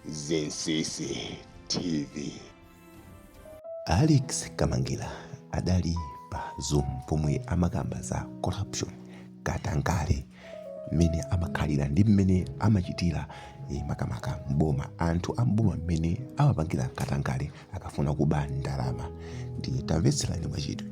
Zinsisi TV. Alex Kamangila adali pa Zoom pomwe amakamba za corruption katangale mmene amakhalira ndi mmene amachitira eh, makamaka mboma anthu a mboma mmene amapangira katangale akafuna kuba ndalama ndiye tamvetserani mwachidwi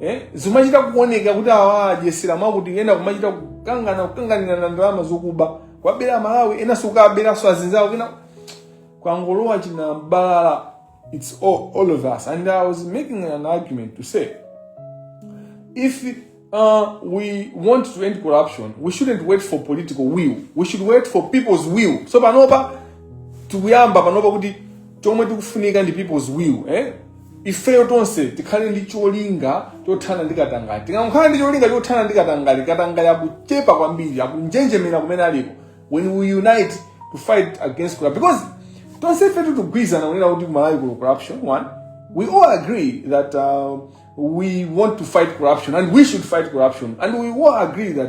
eh? zimachita kuoneka kuti awa adyesera mwakuti ena kumachita kukangana kukanganirana ndalama zokuba kuwabera amalawi enanso kukawaberanso anzawo kena kwangolowa china mbalala it's all, all of us and i was making an argument to say if uh, we want to end corruption we shouldn't wait for political will we should wait for people's will so panopa tikuyamba panopa kuti chomwe chikufunika ndi people's will eh? ifeyo tonse tikhale ndi cholinga chothana ndi katangale tikangokhala ndi cholinga chothana ndi katangale katangale akuchepa kwambiri akunjenjemera kumene aliko when we unite to fight against corruption because tonse ife tikugwirizana kunena kuti kumalawi kuno corruption one we all agree that uh, we want to fight corruption and we should fight corruption and we all agree that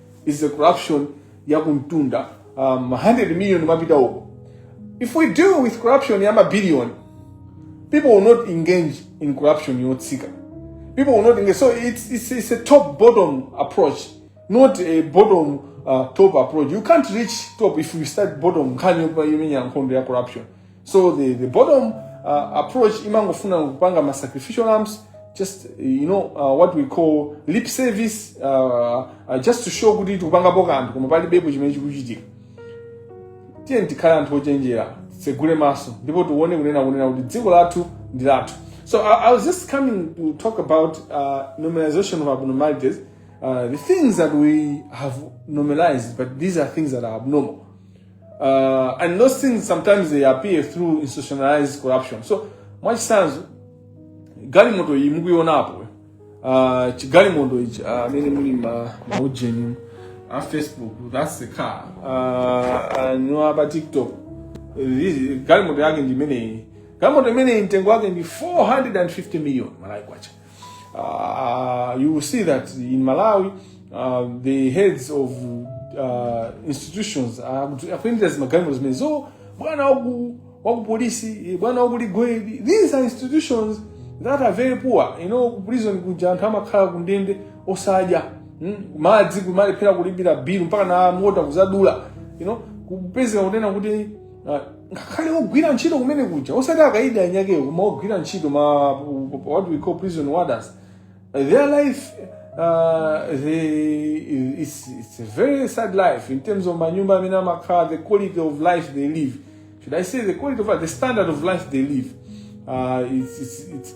is the corruption ya kumtunda um, 100 million mapita uko if we deal with corruption ya mabillion people will not engage in corruption yotsika people will not engage so it's, it's, it's a top bottom approach not a bottom uh, top approach you can't reach top if you start bottom nkhani yomenya nkhondo ya corruption so the, the bottom uh, approach imangofuna kupanga ma sacrificial lambs just you know uh, what we call lip service uh, uh, just to show kuti tikupangapo kanthu koma palibepo chimene chikuchitika tiyeni tikhale anthu ochenjera titsegule maso ndipo tione kunena kunena kuti dziko lathu ndi lathu so I, i was just coming to talk about uh, normalization of abnormalities uh, the things that we have normalized but these are things that are abnormal Uh, and those things sometimes they appear through institutionalized corruption. So, mwachisanzo galimoto iyi mukuionapo uh, chigalimoto ichi uh, amene muli maujeni a facebook that's the car uh, anthu a pa tiktok This- galimoto yake ndi imeneyi galimoto imeneyi mtengo wake ndi 450 million malawi kwacha Uh, you will see that in Malawi, uh, the heads of uh, institutions akuyendera magalimoto amenewo bwana waku wakupolisi bwana waku legal aid these are institutions that are very poor you know ku prison kuja anthu amakhala ku ndende osadya mm? madzi kumalephera kulipira bill mpakana a water kuzadula you know kupezeka kunena kuti Ah, ngakhale ogwira ntchito kumene kuja osati akaidi aniakewo koma ogwira ntchito ma what we call prison warders their life uh, they, it's, it's a very sad life in terms of manyumba amene amakhala the quality of life they live should i say the quality of life the standard of life they live uh, it's, it's, it's,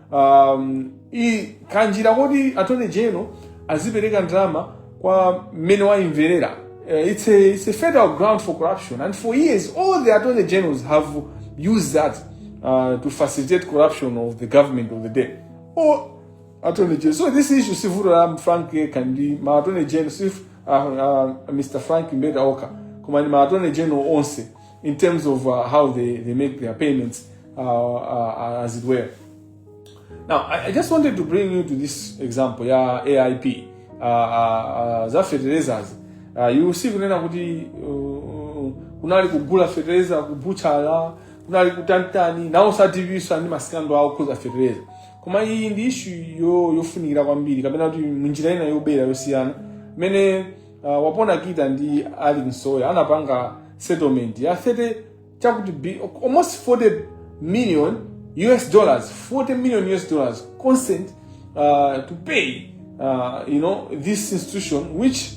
um, i kanjira koti attorney general azipereka ndalama kwa mmene waimverera uh, it's, a, it's a federal ground for corruption and for years all the attorney generals have used that uh, to facilitate corruption of the government of the day or attorney general so this issue sivuto la frank yekha ndi ma attorney general sif uh, uh, mr frank mbeta okha koma ndi ma attorney general onse in terms of uh, how they, they make their payments, uh, uh, as it were. Now, I, I, just wanted to bring you to this example, yeah, AIP, uh, uh, uh, za fertilizers. Uh, you see kunena kuti uh, kunali kugula fertilizer kubuchala kunali kutanitani nawo sativiswa ndi masikando okhuza fertilizer koma iyi ndi ishu yofunikira kwambiri kapena kuti munjira ina yobera yosiyana mene uh, wapona kita ndi alick msowoya anapanga settlement ya 30 chakuti bi- almost 40 million us dollars 40 million us dollars consent uh, to pay uh, you know this institution which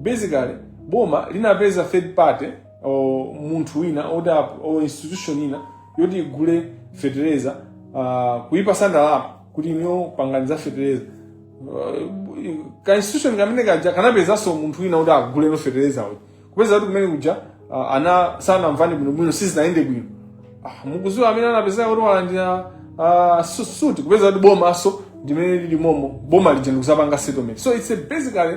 basically boma linapeza third party or munthu wina or, the- or institution ina yoti igule fetereza uh, kuipasa ndalama kuti inuyo pangani za fetereza ka institution kamene kaja kanapezanso munthu wina kuti agule no fetereza uja kupeza kuti kumene kuja ah, ana sanamvane bwinobwino sizinayende bwino Ah, mukuziwa amene anapezeka kuti walandira ah, su- suti kupeza kuti bomaso ndimene lili momo boma lija ndikuzapanga settlement so it's a basically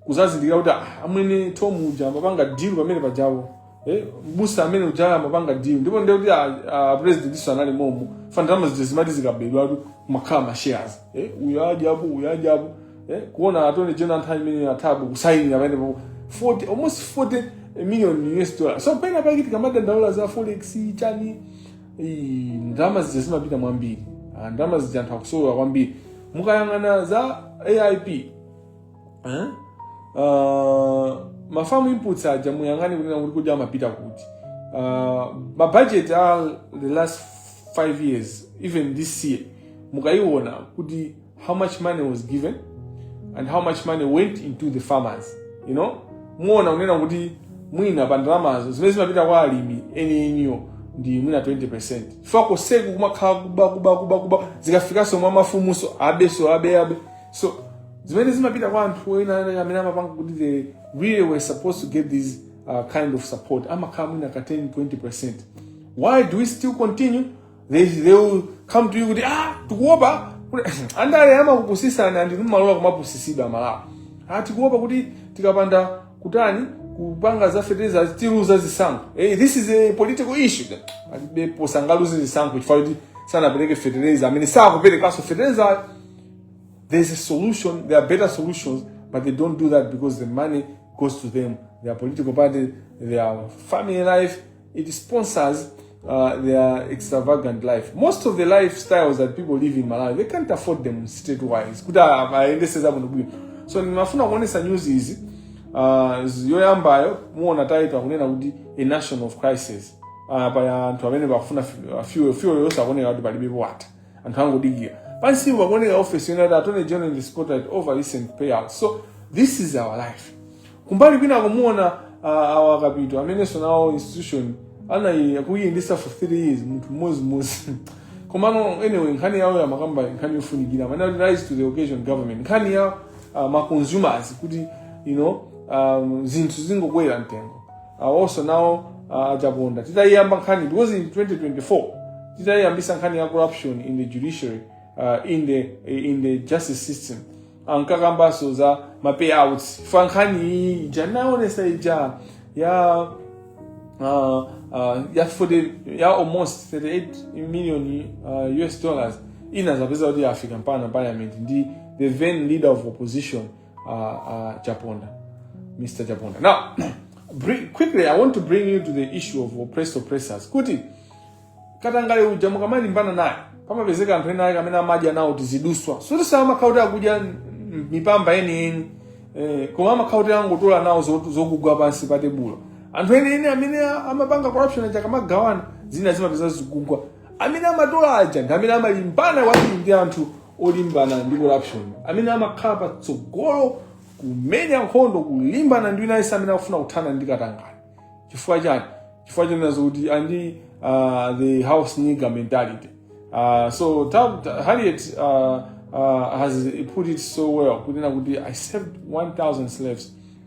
kuzazindikira kuti ah, amwene tom uja amapanga deal pamene pajawo eh, mbusa amene uja amapanga deal ndipo ndiye kuti ah, ah, president iso anali momo fa ndalama zija zimati zikabedwatu kumakhala mashares eh, uyu adya apo uyu adya apo eh, kuona attorney general nthawi imene a thabo kusayinira pamenepapo 40 almost 40 million us dollar so penapake tikamadandaula za forex chani ii, ndalama zija zimapita mwambiri Ah, ndalama zija anthu akusowa kwambiri mukayang'ana za aip eh? uh, ma farm inputs aja muyang'ane kunena kuti kodi amapita kuti uh, mabajeti a the last five years even this year mukaiona kuti how much money was given and how much money went into the farmers you know muona kunena kuti mwina pa ndalamazo zimene zimapita kwa alimi enieniwo ndi mwina 20 percent chifukwa koseku kumakhala kuba kuba kuba kuba zikafikanso mwa mafumuso abeso abe abe so zimene zimapita kwa anthu enieni amene amapanga kuti they really were supposed to get this uh, kind of support amakhala mwina ka 10 20 percent why do we still continue they, they will come to you kuti ah tikuopa andale amakupusisani ndi mumalola kumapusisidwa amalawi ah tikuopa kuti tikapanda kutani kupanga za fertilizer tiluza zisankho hey, this is a political issue palibepo sangaluze zisankho chifukwa kuti sanapereke fertilizer amene sakuperekaso fertilizer There's a solution, there are better solutions, but they don't do that because the money goes to them, their political party, their family life, it sponsors uh, their extravagant life. Most of the lifestyles that people live in Malawi, they can't afford them state-wise. Kuti aendeseza muno bwino. So nimafuna kuonesa news izi uh, yoyambayo muona title akunena kuti a nation of crisis. Uh, paya anthu amene bafuna fuel fuel yosakoneka kuti palibe wata. anthu angodikira pansipo pakuoneka office yonse attorney general in the spotlight over recent payouts so this is our life kumbali kwina kumuona uh, awa kapito amenenso nawo institution anayiyendesa for three years munthu mmodzimodzi komano anyway nkhani yawo ya makamba nkhani yofunikira manati rise to the occasion government nkhani ya uh, ma consumers kuti you know um, zinthu zingokwera mtengo awonso nawo ah, achaponda titayiyamba nkhani because in 2024 titayiyambisa nkhani ya corruption in the judiciary uh, in, the, in the justice system ankakambanso za ma payouts pa nkhani iyi ija naonesa ija ya uh, uh, ya 40 ya almost 38 million uh, us dollars inazapeza kuti yafika mpaka parliament ndi the then leader of opposition uh, uh, Chaponda, Mr. Chaponda. Now, bring, quickly, I want to bring you to the issue of oppressed oppressors. Kuti, katangale uja mukamalimbana naye pamapezeka anthu ena ake amene amadya nawo tiziduswa so sitimakhala kuti akudya mipamba yeniyeni eh, koma amakhala kuti angotola nawo zo- zokugwa pansi pa tebulo anthu eniyeni amene a- amapanga corruption aja akamagawana zina zimapeza zikugwa amene amatola aja ndi amene amalimbana kwambiri ndi anthu olimbana ndi corruption amene amakhala patsogolo kumenya nkhondo kulimbana ndi wina aliyense amene akufuna kuthana ndi katangale chifukwa chani chifukwa chonena zokuti andi uh, the house nigger mentality uh, so ta, ta, harriet uh, uh, has put it so well kunena kuti i saved 1000 slaves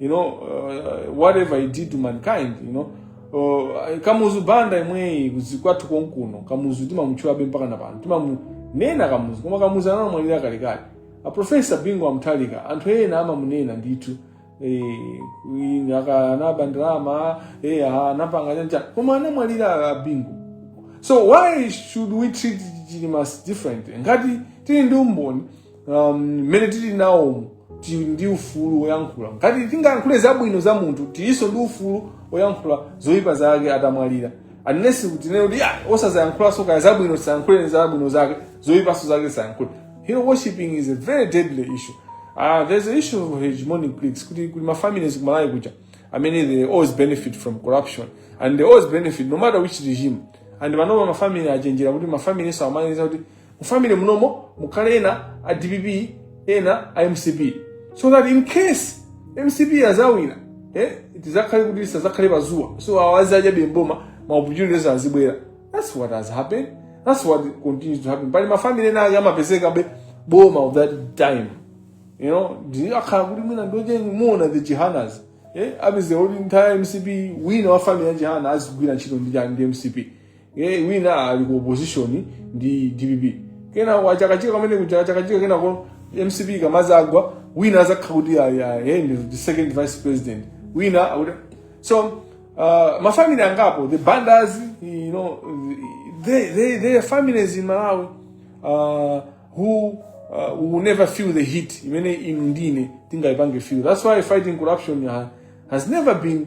you know uh, whatever he did to mankind you know uh, kamuzu banda imweyi kwathu konkuno kamuzu timamutchulabe mpaka na pano timamunena kamuzu koma kamuzu anamwalira kalekale aprofesa bingu a mutharika anthu ena amamunena ndithu eh, kunena aka- anaba ndalama eh, anapanga chanchani koma anamwalira ah, bingu so why should we treat chilimas differently ngati tili ndi umboni um, mmene um, tili nawo tili ndi ufulu woyankhula ngati tingayankhule zabwino za munthu tilinso ndi ufulu woyankhula zoyipa zake atamwalira unless tinene kuti iyayi osazayankhulanso kaya zabwino tisayankhule zabwino zake zoyipanso zake tisayankhule hero worshiping is a very deadly issue uh, there's an issue of hegemonic cliques kuti kuli mafamilies kumalayi kuja amene they always benefit from corruption and they always benefit no matter which regime and panopa mafamily achenjera kuti mafamily so amaganiza kuti mu family munomo mukhale ena a dpp ena a mcp so that in case mcp yazawina eh, tizakhale kuti tisazakhale pazuwa so awa azidyabe mboma ma opportunities azibwera that's what has happened that's what continues to happen pali mafamily ena ake amapezekabe boma of that time you know akhala kuti mwina ndoche mumaona the jihanas eh, apeze kuti nthawi ya mcp wina wa family ya jihana azigwira ntchito ndi chani ndi mcp ye wina ali ku opposition ndi dpp kena wachakachika pamene kuja chakachika kenako mcp ikamazagwa wina azakhala kuti ayi, ayi, hey, ndi the second vice president wina akuti so uh, mafamily angapo the bandas you know they, they, they are families in malawi uh, who uh, will never feel the heat imene inu ndine tingayipange feel that's why fighting corruption uh, has never been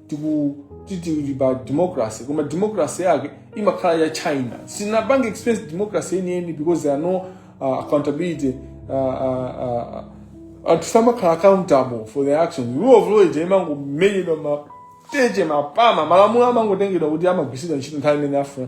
tikuti tili pa democracy koma democracy yake imakhala ya chinaa sitinapange experience democracy yeniyeni because there are no uh, accountability uh, uh, uh, anthu samakhala accountable for their actions rule of law ija imangomenyedwa mateche mapama malamulo amangotengedwa kuti amagwiritsidwa ntchito nthawi imene afuna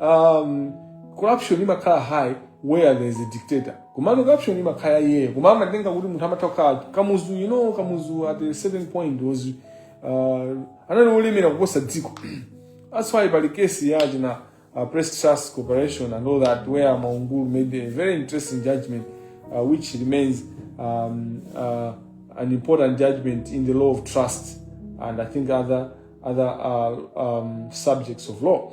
um, corruption imakhala high where there is a dictator komano corruption imakhala iyeyo koma amatenga kuti munthu amatha kukhala kamuzu you know kamuzu at a certain point was uh, anali wolemera kuposa dziko that's why pali kesi ija ya uh, press trust corporation and all that where mwaungulu made a very interesting judgment uh, which remains um, uh, an important judgment in the law of trust and i think other other uh, um, subjects of law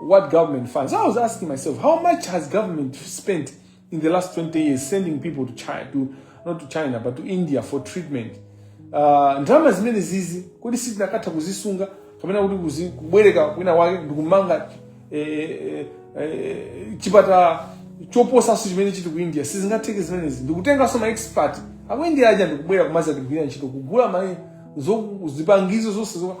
what government funds. I was asking myself, how much has government spent in the last 20 years sending people to China, to, not to China, but to India for treatment? Uh, ndalama zimene zizi kodi sitinakatha kuzisunga kapena kuti kuzi- kubwereka kwina wake ndikumanga eh, eh, eh, chipatala choposanso chimene chili ku india sizingatheke zimenezi ndikutenganso ma expert aku india aja ndikubwera kumazagwira ntchito kugula ma zo- zipangizo zonse zokha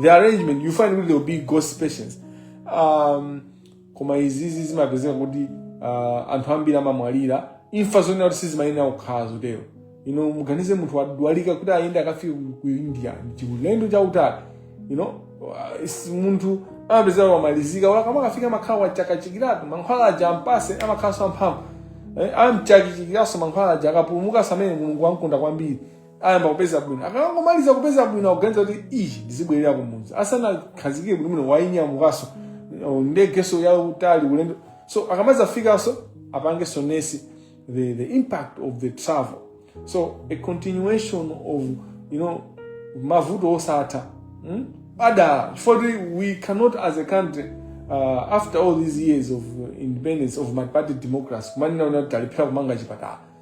the arrangement you find kuti there will be ghost patients um, koma izizi zimapezeka kuti uh, anthu ambiri amamwalira imfa zonena kuti sizimayenera kukhala zotero you know muganize munthu wadwalika kuti ayende akafike ku- ku india chiulendo chautali you know uh, is- munthu amapezeka wamalizika olo akamakafika amakhala wachakachikiratu mankhwala aja ampase amakhalanso amphamvu eh, amchakachikiranso mankhwala aja akapulumuka ndi amene mulungu wamkonda kwambiri ayamba kupeza bwino akangomaliza kupeza bwino akuganiza kuti iii ndizibwerera kumudzi asanakhazikike bwinobwino wainyamukanso uh, ndegenso yautali ulendo so akamazafikanso apangenso nesi the, the impact of the travel so a continuation of you know mavuto osatha hmm? adala chifukwa kuti we cannot as a country uh, after all these years of uh, independence of multiparty democracy kumanena kuti talephera kumanga chipatala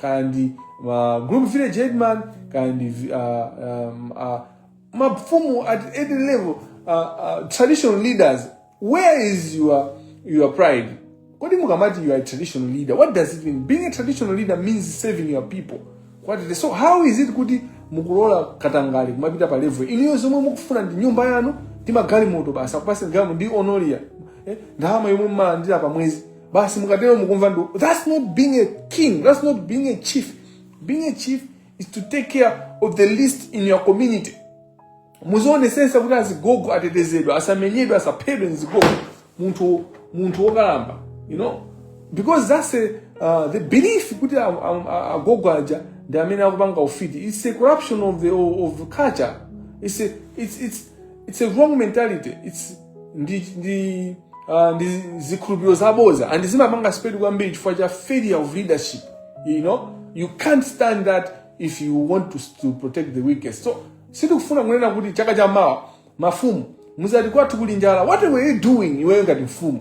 kaya ndi uh, group village headman kaya ndi vi- uh, um, uh, mafumu at any level uh, uh, traditional leaders where is your, your pride kodi mukamati you are a traditional leader what does it mean being a traditional leader means serving your people period so how is it kuti mukulola katangale kumapita pa level iniyo zomwe mukufuna ndi nyumba yanu ndi magalimoto basi akupaseni galimoto ndi honoraria eh, ndalama yomwe mmalandira pa mwezi basi mukatero mukumva ndu that's not being a king that's not being a chief being a chief is to take care of the least in your community muzionesesa kuti azigogo atetezedwa asamenyedwe asaphedwe nzigogo munthu munthu wokalamba you know because that's a, uh, the belief kuti a- a- a- agogo aja ndi amene akupanga ufiti it's a corruption of the of the culture it's a, it's, it's, it's a wrong mentality it's ndi ndi uh, ndi zikhulupiriro zaboza and zimapanga spread kwambiri chifukwa cha failure of leadership you know you can't stand that if you want to, to protect the weakest so sitikufuna kunena kuti chaka cha mawa mafumu muzati kwathu kuli njala what were you doing iweyo ngati mfumu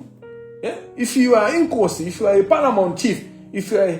yeah? if you are inkosi if you are a paramount chief if you are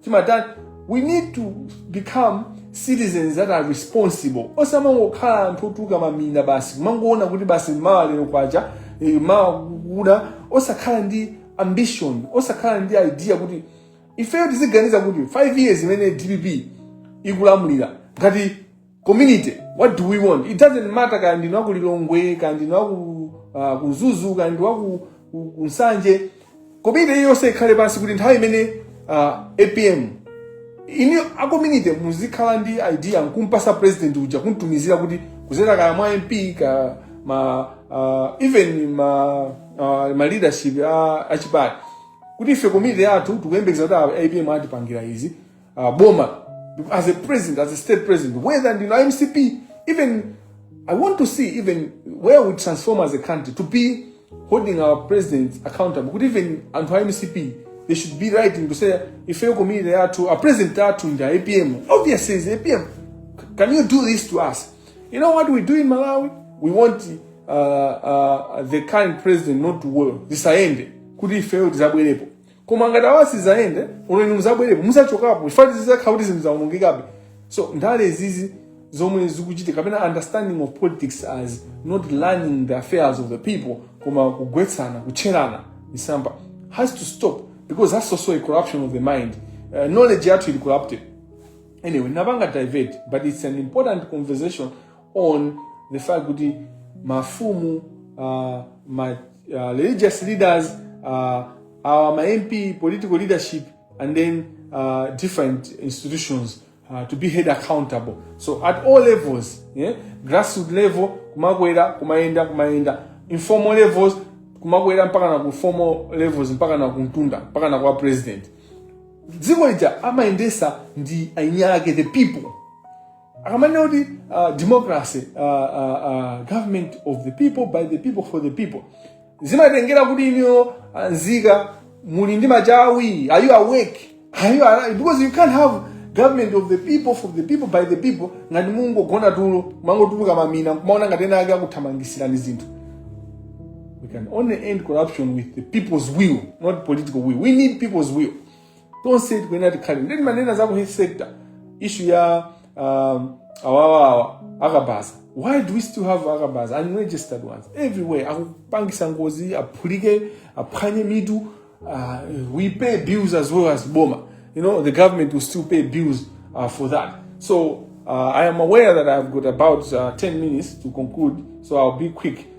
chimatani we need to become citizens that are responsible osamangokhala anthu otuluka mamina basi kumangoona kuti basi mawa lero kwacha eh, mawa kuda osakhala ndi ambition osakhala ndi idea kuti ifeyo tiziganiza kuti 5 years imene dpp ikulamulira ngati community what do we want it doesn't matter kaya ndinu aku lilongwe kaya ndinu aku uh, ku mzuzu kaya ndinu aku ku- ku nsanje community iliyonse ikhale pansi kuti nthawi imene uh, apm inu a community muzikhala ndi idea nkumpasa president uja kumtumizira kuti kuzera kaya mwa mp ka ma uh, even ma uh, ma leadership a, a chipani kuti ife community yathu tikuyembekeza kuti a- apm atipangira izi uh, boma as a president as a state president whether ndinu a mcp even i want to see even where we transform as a country to be holding our president accountable kuti even anthu a mcp they should be writing to say ifeyo community yathu a president athu ndi a apm obviously is apm can you do this to us you know what we do in malawi we want uh, uh, the current president not to work zisayende kuti ifeyo tizabwerepo koma ngati sizayenda olo muzabwerepo muzachokapo chifukwa zizakhala kuti zinthu zaonongekabe so ndale izizi zomwe zikuchitika kapena understanding of politics as not running the affairs of the people koma kugwetsana kutcherana misampha has to stop because that's also a corruption of the mind uh, knowledge yathu ili corrupted anyway napanga divert but it's an important conversation on the fact kuti mafumu uh, ma, uh, religious leaders uh, our ma mp political leadership and then uh, different institutions uh, to be held accountable so at all levels yeah? grassroot level kumakwera kumayenda kumayenda informal levels kumakwera mpakana ku formal levels mpakana kumtunda mpakana kwa president dziko lija amayendesa ndi eniake the people akamanena kuti uh, democracy uh, uh, uh, government of the people by the people for the people zimatengera kuti inuyo nzika muli ndi machawi are you awake are you alive because you can't have government of the people for the people by the people ngati mungogona tulo mangotuluka mamina kumaona ngati ena ake akuthamangisirani zinthu we can only end corruption with the people's will not political will we need people's will tonse tikuyenera tikhale ndi manena za ku health sector issue ya um, awawawa akabaza why do we still have akabaza unregistered ones everywhere akupangisa ngozi aphulike aphwanye mitu uh, we pay bills as well as boma you know the government will still pay bills uh, for that so uh, i am aware that i've got about uh, 10 minutes to conclude so i'll be quick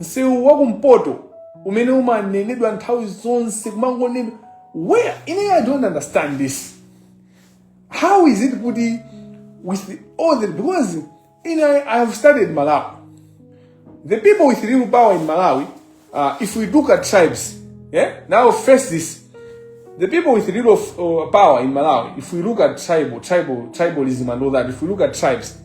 msewu wa kumpoto umene umanenedwa nthawi zonse kumangonedwa where ine i don't understand this how is it kuti with the, all the because ine i have studied malawi the people with real power in malawi uh, if we look at tribes yeah now face this the people with real of, uh, power in malawi if we look at tribal tribal tribalism and all that if we look at tribes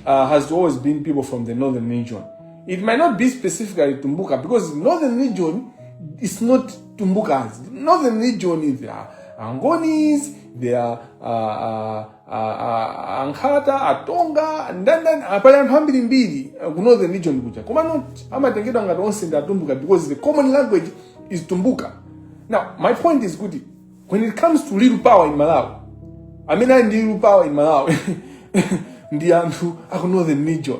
uh, has always been people from the northern region It might not be specifically Tumbuka because northern region is not Tumbukas. Northern region is there are Angonis, there are uh, uh, uh, uh, Ankhata, Atonga, ndani ndani pali anthu ambirimbiri uh, ku northern region kuja koma not amatengedwa ngati onse ndi atumbuka because the common language is tumbuka now my point is kuti when it comes to real power in malawi amene ali ndi real power in malawi ndi anthu aku northern region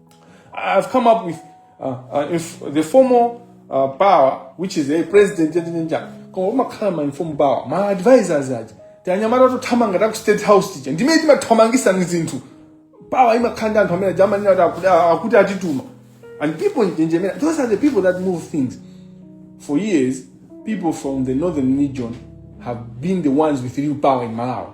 I've come up with uh, uh, inf- the formal uh, power, which is a president, koma umakhala ma informal power, ma advisors aja. Tianyamata tothamanga ta ku state house tija. Ndimene timathamangisa ni zinthu. Power imakhala ndi anthu amene aja amanena kuti akuti akuti atituma. And people amanjenjemera, those are the people that move things. For years, people from the northern region have been the ones with real power in Malawi.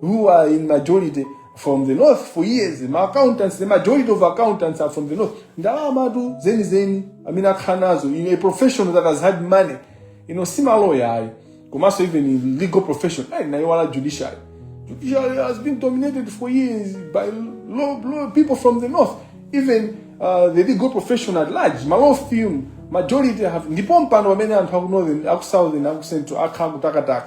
who are in majority from the north for years ma accountants the majority of accountants are from the north ndalama tu zeni zeni amene akhala nazo in a profession that has had money you know si maloya ayi komanso even in legal profession ayi nayiwala judiciary judiciary has been dominated for years by law, law, people from the north even uh, the legal profession at large ma law firm majority have ndipo mpando pamene anthu aku northern aku southern aku central akhala kutakataka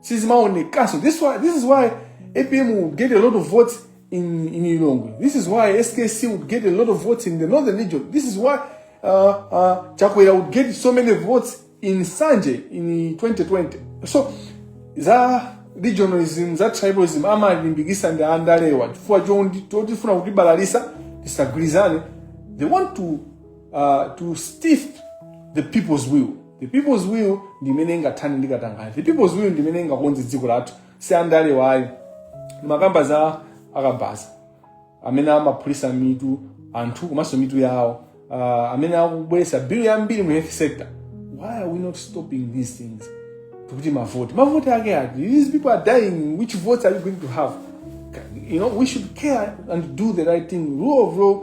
sizimaonekanso this, why, this is why apm would get a lot of votes in, in ilongwe this is why skc would get a lot of votes in the northern region this is why uh, uh, chakwera would get so many votes in sanje in 2020 so za regionalism za tribalism amalimbikisa ndi andalewa chifukwa chondi- chotifuna kutibalalisa tisagwirizane they want to, uh, to stiff the people's will the people's will ndi imene ingathane ndi katangale the people's will ndi imene ingakonze dziko lathu si andale wayo makamba za akabaza amene amaphulitsa mitu anthu komanso mitu yawo uh, amene akubweretsa bill yambiri mu health sector why are we not stopping these things tikuti mavoti mavoti ake ati these people are dying which votes are you going to have you know we should care and do the right thing rule of law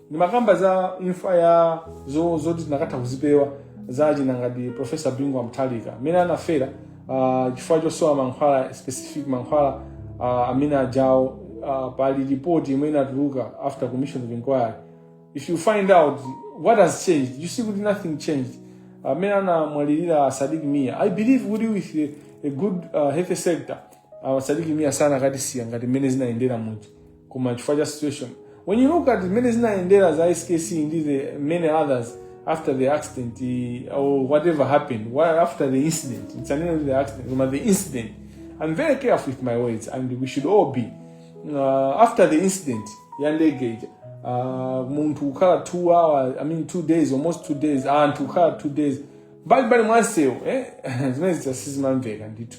ndimakamba za imfa ya zo- zoti tikanatha kuzipewa za akina ngati profesa bingu wa mutharika amene anafera ah, chifukwa chosowa mankhwala specific mankhwala ah, amene ajawo ah, pali ripoti imene inatuluka after commission of inquiry if you find out what has changed you see kuti nothing changed amene anamwalirira sadik mia i believe kuti with a, a good uh, health sector uh, sadik mia sakanatisiya ngati mmene zinayendera muja koma chifukwa cha situation when you look at mmene zinayendera za skc ndi the many others after the accident eh, or whatever happened wha- after the incident sindinanene kuti accident koma the incident i'm very careful with my words and we should all be uh, after the incident ya ndege ija uh, munthu kukhala two hours i mean two days almost two days anthu kukhala two days mbalimbali mwa msewu eh? zimene zija sizimamveka ndithu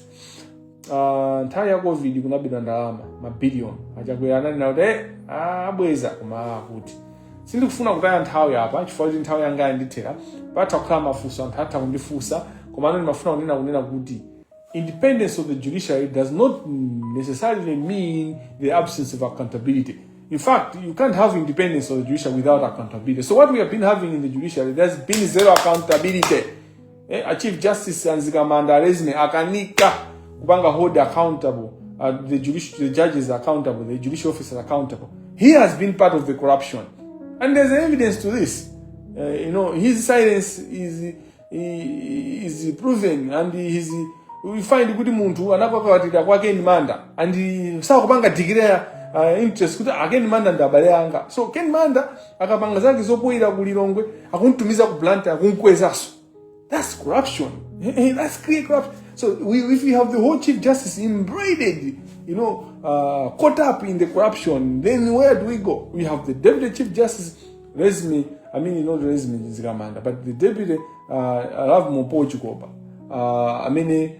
Ah, nthawi ya covid kunabedwa ndalama mabiliyoni a Chakwera anali nawo kuti "Eh, ah, abweza koma akuti sindikufuna kutaya nthawi apa chifukwa kuti nthawi yanga yandithera patha kukhala mafunso anthu atha kundifunsa komano ndimafuna kunena kunena kuti independence of the judiciary does not necessarily mean the absence of accountability in fact you can't have independence of the judiciary without accountability so what we have been having in the judiciary there's been zero accountability eh, a chief justice anzikamanda alezine akanika kupanga hold accountable uh, the, judici- the judges accountable the judicial officers accountable he has been part of the corruption and there's evidence to this uh, you know his silence is i- is proven and his we find kuti munthu anakakawatira kwa ken manda and sakupanga declare uh, interest kuti a ken manda ndi abale anga so ken manda akapanga zake zopoyira ku lilongwe akuntumiza ku blantyre akunkwezaso that's corruption eh, eh, that's clear corruption so we, if we have the whole chief justice embroidered you know uh, caught up in the corruption then where do we go we have the deputy chief justice resmi i mean you know the resmi zikamanda but the deputy uh, alafu mu portugal pa uh, amene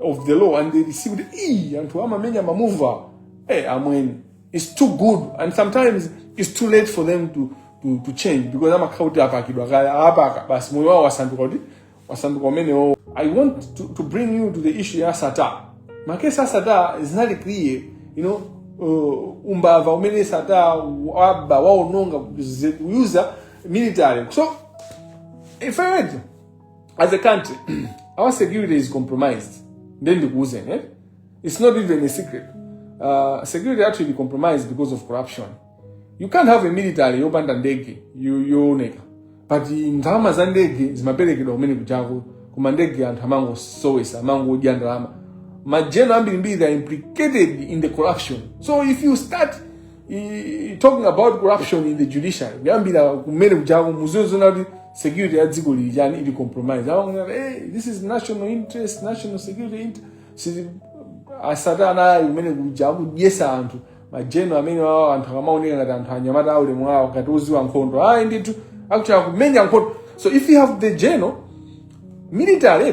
of the law and they see it. Ee, anthu amamenya mamuva. Hey, amweni. It's too good and sometimes it's too late for them to to, to change because amakhala kuti apakidwa kale apaka basi moyo wawo wasanduka kuti wasanduka umenewo. I want to, to bring you to the issue ya Sattar. Makesi a Sattar zinali clear, you know, uh, umbava umene Sattar waba waononga kuyuza military. So if I went as a country our security is compromised nde ndikuuzeni eh? it's not even a secret uh, security yathu ili compromised because of corruption you can't have a military yopanda ndege yo- yooneka but ndalama za ndege zimaperekedwa kumene kujako koma ndege anthu amangosowesa amangodya ndalama majeno ambirimbiri they are implicated in the corruption so if you start I- talking about corruption in the judiciary kuyambira kumene kujako muziozona kuti security ya dziko lino chani ili compromise awa hey, this is national interest national security interest Sili- a Sattar nayi kumene kuja akudyesa anthu majeno amene wawo anthu akamaoneka ngati anthu anyamata aulemu wawo ngati oziwa nkhondo ayi ndithu akuti akumenya nkhondo so if you have the general military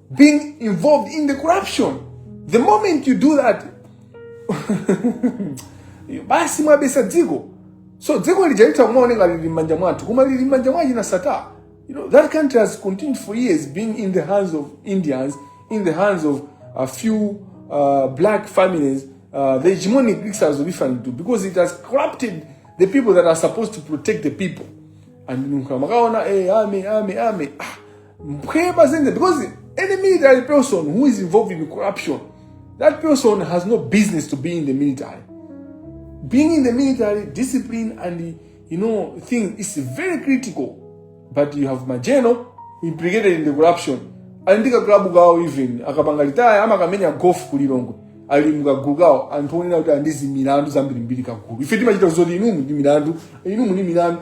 being involved in the corruption. The moment you do that, basi mwabesa dziko. So dziko lijaita umaone ngati lili m'manja mwathu, koma lili m'manja mwa china Sata. You know, that country has continued for years being in the hands of Indians, in the hands of a few uh, black families. Uh, the hegemonic Greeks has different too because it has corrupted the people that are supposed to protect the people. And makaona, eh, ame, ame, ame. Ah, Pray Bazinga, because any military person who is involved in corruption, that person has no business to be in the military. Being in the military, discipline and the, you know thing is very critical. But you have Majeno implicated in the corruption. Ali ndi kaklabu kawo even akapanga retire amakamenya golf ku Lilongwe ali mukagulu kawo anthu onena kuti ali ndi zimilandu zambirimbiri kagulu ife timachita zoti inumu ndi milandu inumu ndi milandu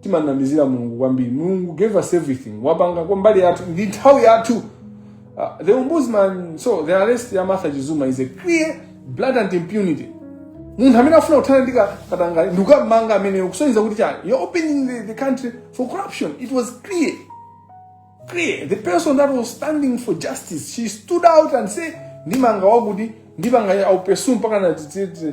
timanamizira Mulungu kwambiri Mulungu gave us everything wapanga kwa mbali yake ndi nthawi yathu uh, the ombudsman so the arrest ya Martha Chizuma is a clear blatant impunity munthu amene afuna kuthana ndi ka- katangale ndi kukamanga ameneyo kusonyeza kuti chani you're opening the, the country for corruption it was clear clear the person that was standing for justice she stood out and say ndimanga wakuti ndipanga aupesu mpakana tititi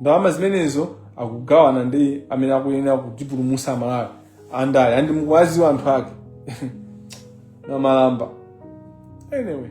ndalama zimenezo akugawana ndi amene akuyenera kutipulumusa Amalawi andale and mukuwaziwa anthu ake nkhalamba anyway